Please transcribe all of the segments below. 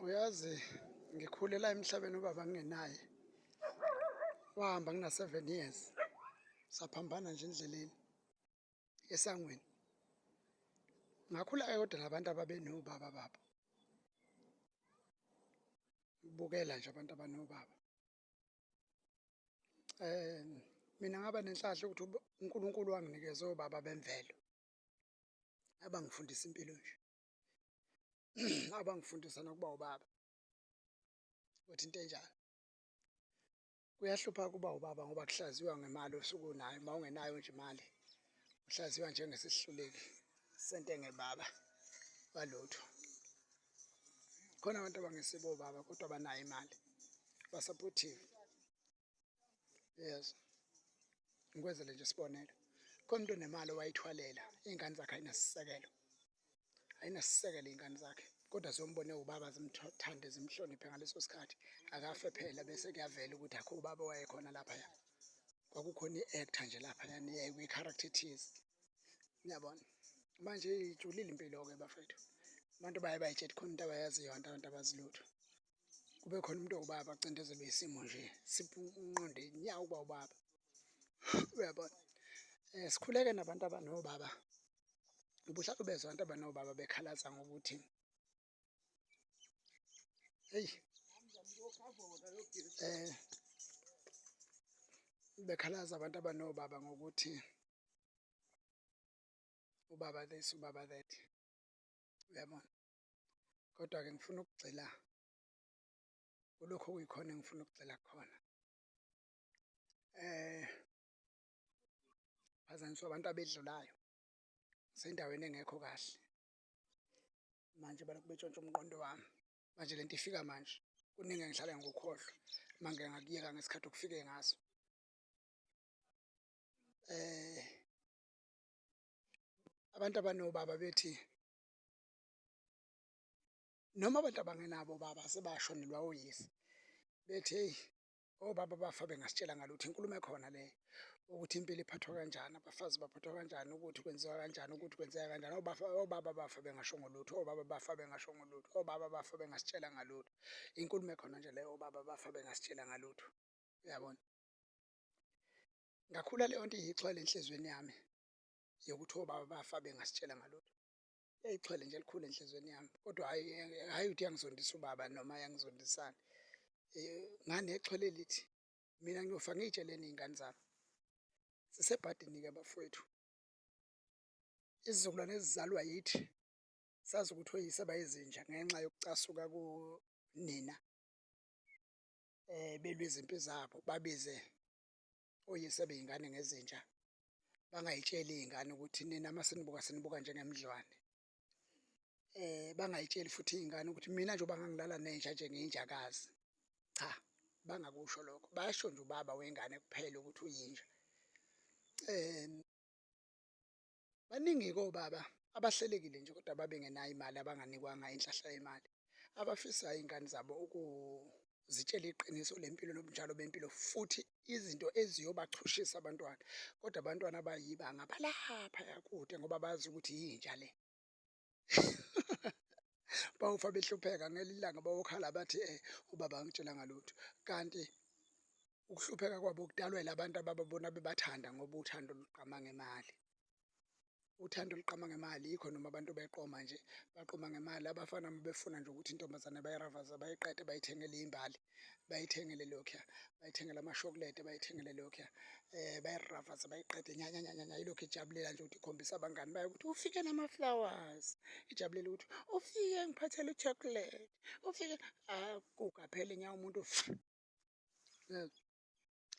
uyazi ngikhulela emhlabeni ubaba ngingenaye wahamba ngina-seven years saphambana nje endleleni esangweni ngakhula-ke kodwa nabantu ababenobaba babo bukela nje abantu abanobaba um mina ngaba nenhlahla ukuthi unkulunkulu wanginikeza obaba bemvelo abangifundisa impilo nje abangifundisa nokuba ubaba ukuthi into enjalo kuyahlupha kuba ubaba ngoba kuhlaziywa ngemali osuku nayo uma ungenayo nje imali uhlaziywa njengesihluleki sentenge baba walutho khona abantu abangesibo baba kodwa banayo imali basupportive yes ngikwenzele nje isibonelo khona umuntu onemali owayithwalela iy'ngane zakhe ayinasisekelo ayinasisekelo iy'ngane zakhe kodwa zombone ubaba zimthande zimhloniphe ngaleso sikhathi akafe phela bese kuyavela ukuthi akho ubaba wayekhona laphaya kwakukhona i-actor nje laphaya kwi-character thize niyabona manje ijulile impilo-ke bafethu abantu baye bayitshela khona into abayaziyo abantu abantu abazilutho kube khona umuntu owubaba acindezelwe isimo nje sipunqonde inyawo uba ubaba uyabona um sikhuleke nabantu abanobaba ubuhlalo bezwa abantu abanobaba bekhalaza ngokuthi eyi um bekhalaza abantu abanobaba ngokuthi ubaba this ubaba that uyabona kodwa-ke ngifuna ukugxila kulokhu okuyikhona engifuna ukugxila khona eh phazanyiswa abantu abedlulayo sendaweni engekho kahle manje balokhu betshontsha umqondo wami manje lento ifika manje kuningi engihlale ngikukhohlwa manje ngakuyeka ngesikhathi okufike ngaso eh abantu abanobaba bethi noma abantu abangenabo obaba sebashonelwa oyise, bethi hheyi obaba bafa bengasitshelanga lutho, inkulumo ekhona leyo ukuthi impilo iphathwa kanjani, abafazi baphathwa kanjani, ukuthi kwenziwa kanjani, ukuthi kwenzeka kanjani. Obafa, obaba bafa bengashongo lutho, obaba bafa bengashongo lutho, obaba bafa bengasitshelanga lutho, inkulumo ekhona nje leyo obaba bafa bengasitshelanga lutho, uyabona? Ngakhula leyonto iyixhwele enhlizweni yami yokuthi obaba bafa bengasitshelanga lutho. Eyixhwele nje elikhulu enhlizweni yami kodwa hayi hayi ukuthi yangizondisa ubaba noma yangizondisana eh, ngane exhwele lithi mina ngiyofa ngiyitsheleni iy'ngane zami sisebhadini-ke bafowethu izizukulwane ezizalwa yithi sazi ukuthi oyise bayizinja ngenxa yokucasuka kunina um belwe izimpi zabo babize oyise beyingane ngezinja bangayitsheli iy'ngane ukuthi nina uma sinibuka sinibuka njengemidlwane eh bangayitsheli futhi iy'ngane ukuthi mina njengoba ngangilala nenja nje ngiyinjakazi cha bangakusho lokho basho nje ubaba wengane kuphela ukuthi uyinja um Baningi-ke obaba abahlelekile nje kodwa babengenayo imali abanganikwanga inhlahla yemali. Abafisayo iy'ngane zabo ukuzitshela iqiniso lempilo nobunjalo bempilo futhi izinto eziyobachushisa abantwana. Kodwa abantwana abayibanga balaphaya kude ngoba bazi ukuthi yinja le. bawufa behlupheka ngelinye ilanga bawokhala bathi eh ubaba angitshela ngalutho kanti ukuhlupheka kwabo kudalwela abantu abababona bebathanda ngoba uthando luqama ngemali uthando luqama ngemali yikho noma abantu beqoma nje baqoma ngemali abafana befuna nje ukuthi intombazane bayiravaza bayiqede bayithengele imbali bayithengele lokhuya bayithengele amashokulede bayithengele lokhuya um eh, bayiravaza bayiqede nyanyanyanyanya yilokhu ijabulela nje ukuthi ikhombisa abangani bayo ukuthi ufike nama-flowers ijabulela ukuthi ufike ngiphathele uchocolate ufike akugaphele ah, nya umuntu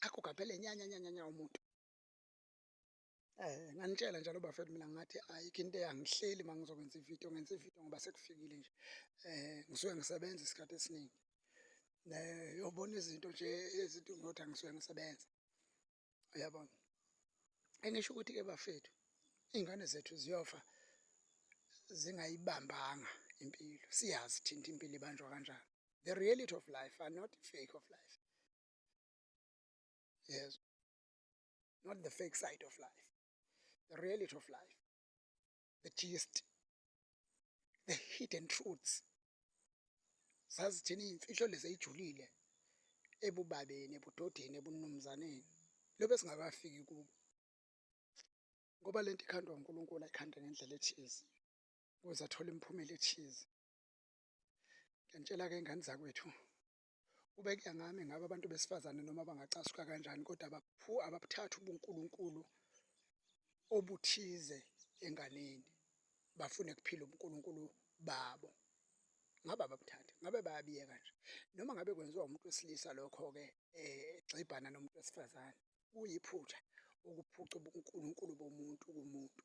akugaphele nyanyanyanyanya umuntu Eh nganitshela njalo bafethu mina ngathi ayikho into eyangihleli mangizokwenza ivideo ngenza ivideo ngoba sekufikile nje. Eh ngisuke ngisebenza isikhathi esiningi. Ne yobona izinto nje ezinto ngothi angisuke ngisebenza. Uyabona? Engisho ukuthi ke bafethu ingane zethu ziyofa zingayibambanga impilo. Siyazi thinta impilo ibanjwa kanjani. The reality of life are not fake of life. Yes. not the fake side of life the reality of life the gist the hidden truths zazithini iy'mfihlo lezi ey'julile ebubabeni ebudodeni ebunumzaneni lobe singakafiki kubo ngoba lento ikhandwa uNkulunkulu ayikhande ngendlela ethize ukuze athole imiphumela ethize ngiyantshela-ke ingane zakwethu Kube kuya ngami ngabe abantu besifazane noma bangacasuka kanjani kodwa abaphu ababuthathi ubuNkulunkulu obuthize enganeni bafune kuphila ubuNkulunkulu babo. Ngabe ababuthathi, ngabe bayabiyeka nje. Noma ngabe kwenziwa umuntu wesilisa lokho-ke egxibhana nomuntu wesifazane, kuyiphutha ukuphuca ubuNkulunkulu bomuntu kumuntu.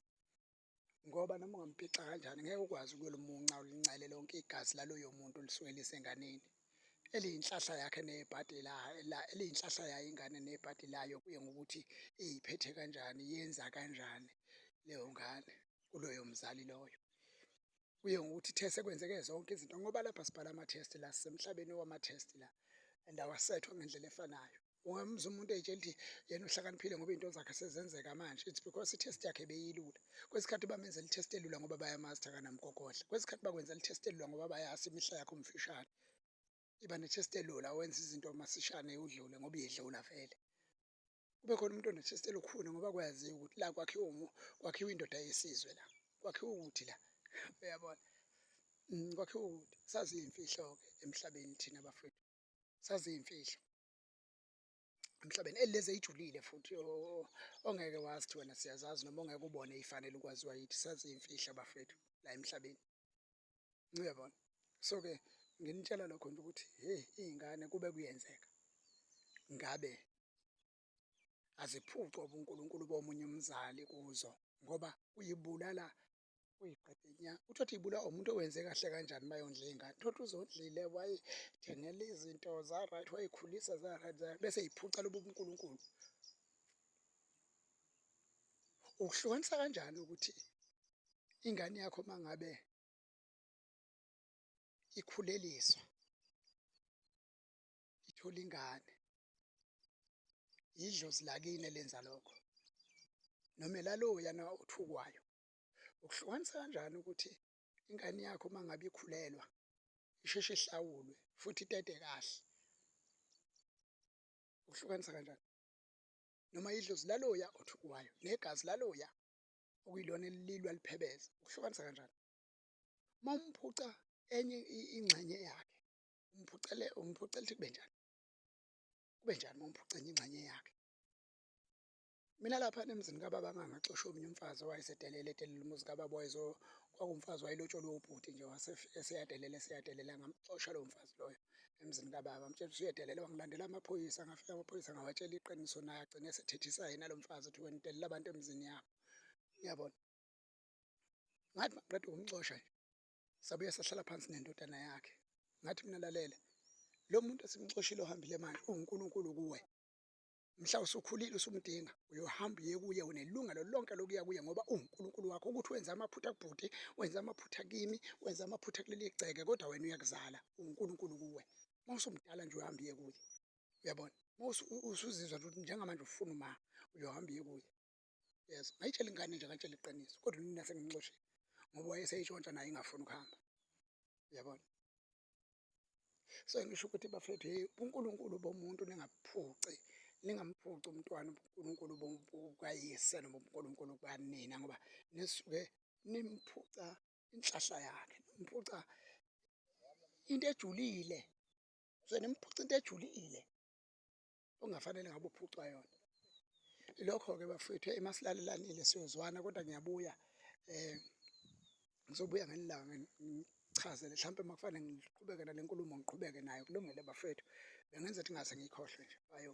ngoba noma ungampica kanjani ngeke ukwazi ukuyolimunca ulincele lonke igazi laloyo muntu olisuke lisenganeni eliyinhlahla yakhe nebhadi la eliyinhlahla yayo ingane nebhadi layo kuye ngokuthi iyiphethe kanjani yenza kanjani leyo ngane kuloyo mzali loyo kuye ngokuthi ithe sekwenzeke zonke izinto ngoba lapha sibhala ama-test la sisemhlabeni wama-test la and awasethwa ngendlela efanayo Ungamuzwa umuntu etshela ukuthi yena uhlakaniphile ngoba izinto zakhe sezenzeka manje. It's because i-test yakhe beyilula. Kwesikhathi bamenzela i-test elula ngoba bayamazi ukuthi akanamgogodla. Kwesikhathi bakwenzela i-test elula ngoba bayazi imihla yakho mfishane. Iba ne-test elula wenza izinto masishane udlule ngoba uyedlula vele. Kube khona umuntu one-test elukhuni ngoba kwaziwa ukuthi la kwakhiwa kwakhiwa indoda yesizwe la. Kwakhiwa ukuthi la. Uyabona? Mm, kwakhiwa ukuthi sazi iy'mfihlo-ke emhlabeni thina bafowethu. saziyimfihlo emhlabeni elezi ejulile futhi ongeke wazi wena siyazazi noma ongeke ubone ifanele ukwaziwa yithi saziyimfihlo bafethu la emhlabeni ngiyabona so ke nginitshela lokho nje ukuthi hey izingane kube kuyenzeka ngabe aziphucwa ubuNkulunkulu bomunye umzali kuzo ngoba uyibulala uyiqede nya uthi othi ibulawa umuntu owenze kahle kanjani uma yondla iy'ngane uthotha uzondlile wayithengela izinto za-right wayikhulisa za-right bese yiphuca lobu bunkulunkulu ukuhlukanisa kanjani ukuthi ingane yakho uma ngabe ikhuleliswa ithole ingane yidlozi lakini elenza lokho noma elaloya na othukwayo ukuhlukanisa kanjani ukuthi ingane yakho uma ngabe ikhulelwa isheshe ihlawulwe futhi itete kahle ukuhlukanisa kanjani noma idlozi laloya othukwayo negazi laloya okuyilona elilwa liphebeza ukuhlukanisa kanjani uma umphuca enye ingxenye yakhe umphucele umphucela ukuthi kube njani kube njani uma umphuca enye ingxenye yakhe mina lapha emzini kababa ngangaxosha omunye umfazi owayesedelele edelela umuzi kababa wayezo kwakumfazi wayelotsholwe ubhuti nje wasefike seyadelela seyadelela ngamxosha lowo mfazi loyo emzini kababa mtshela ukuthi uyedelela wangilandela amaphoyisa ngafika amaphoyisa ngawatshela iqiniso naye agcine esethethisa yena lo mfazi ukuthi wena udelela abantu emzini yakho ngiyabona ngathi maqeda ukumxosha nje sabuya sahlala phansi nendodana yakhe ngathi mina lalela lo muntu esimxoshile ohambile manje uwunkulunkulu kuwe mhla usukhulile usumdinga uyohamba uye kuye unelungelo lonke lokuya kuye ngoba uwunkulunkulu wakho ukuthi wenze amaphutha kubhuti wenze amaphutha kimi wenze amaphutha kuleli gceke kodwa wena uyakuzala uwunkulunkulu kuwe uma usumdala nje uyohamba uye kuye uyabona uma usuzizwa ukuthi njengamanje ufuna uma uyohamba uye kuye yezwa ngayitshela ingane nje ngayitshela iqiniso kodwa unina sengimxoshile ngoba wayeseyitshontsha naye ingafuni ukuhamba yabona so ngisho ukuthi bafethu hey uNkulunkulu bomuntu ningaphuci ningamphuci umntwana uNkulunkulu bukayise noma uNkulunkulu kukanina ngoba nisuke nimphuca inhlahla yakhe nimphuca into ejulile so nimphuca into ejulile ongafanele ngabe uphucwa yona lokho-ke bafethu uma silalelanile siyozwana kodwa ngiyabuya um ngizobuya ngelilanga ngichazele mhlawumpe uma kufanele ngiqhubeke nale nkulumo ngiqhubeke nayo kulungele bafethu bengenza ukuthi ngaze ngiyikhohlwe nje bayo